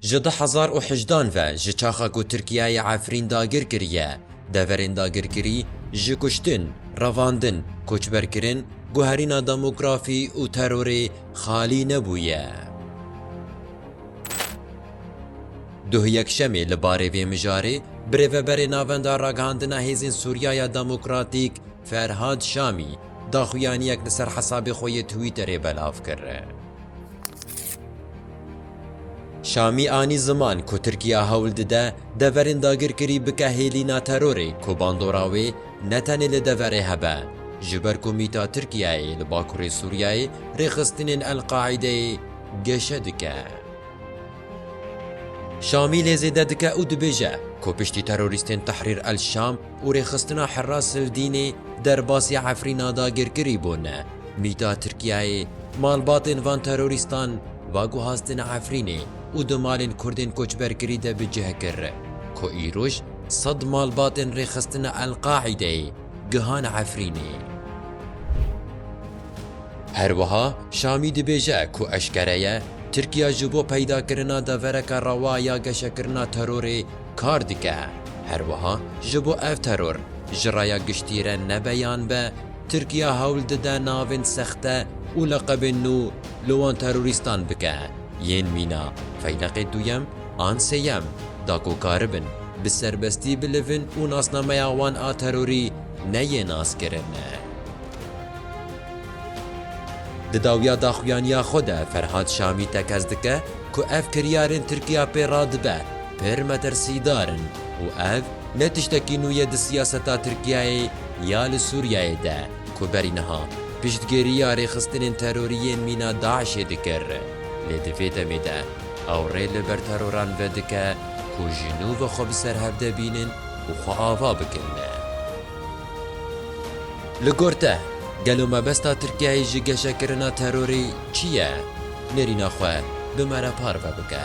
Ji du hezar û hejdan ve ji çaxa ku Tirkiyeyê Efrîn dagir kiriye, deverên dagirkirî, ji kuştin, revandin, koçberkirin, guherîna demografî û terorê xalî nebûye. Duh Yekşemê li barê vê mijarê Birêveberê Navenda Ragihandina Hêzên Sûriyaya Demokratîk Ferhad Şamî daxuyaniyek li ser hesabê xwe yê Twitterê belav kir. Şamî anî ziman ku Tirkiye hewl dide deverên dagirkirî bike hêlîna terorê ku bandora wê ne tenê li deverê hebe, ji ber ku mîta Tirkiyeyê li bakurê Sûriyeyê rêxistinên El-Qaîdeyê geşe dike. Şamî lê zêde dike û dibêje ku piştî terorîstên Tehrîr El-Şam, û rêxistina Hera Sildînê derbasî Efrîna dagirkirî bû ne. Mîta Tirkiyeyê malbatên van terorîstan va guhastin Efrînê û di malên Kurdên koçberkirî de bi cih kir ku îroj sed malbatên rêxistina El-Qaîdeyê gihan Efrînê. Her wiha Şamî dibêje ku eşkere ye Tirkiya ji bo peydakirina devereke rewa ya geşekirina terorê, kar dike. Herwiha ji bo ev teror ji raya giştî re nebe yan be, Tirkiye hewl dide navên sexte û leqebên nû li wan terorîstan bike, yên mîna Feyleqê Duyem an Sêyem da ku karibin bi serbestî bilivin û nasnameya wan a terorî neyê naskirin. Di dawiya daxuyaniya xwe de Ferhad Şamî tekez dike ku ev kiryarên Tirkiye pê radibe, pir metirsîdar in û ev ne tiştekî nû ye di siyaseta Tirkiyeyê ya li Sûriyeyê de ku berî niha piştgiriya rêxistinên terorî yên mîna DAIŞ'ê dikir, lê di vê demê de ew rê li ber teroran vedike ku ji nû ve xwe bi serhevde bînin û xwe ava bikin. Li gor te, gelo mebesta Tirkiyeyê ji geşekirina terorê çi ye? Nêrîna xwe bi me re parve bike.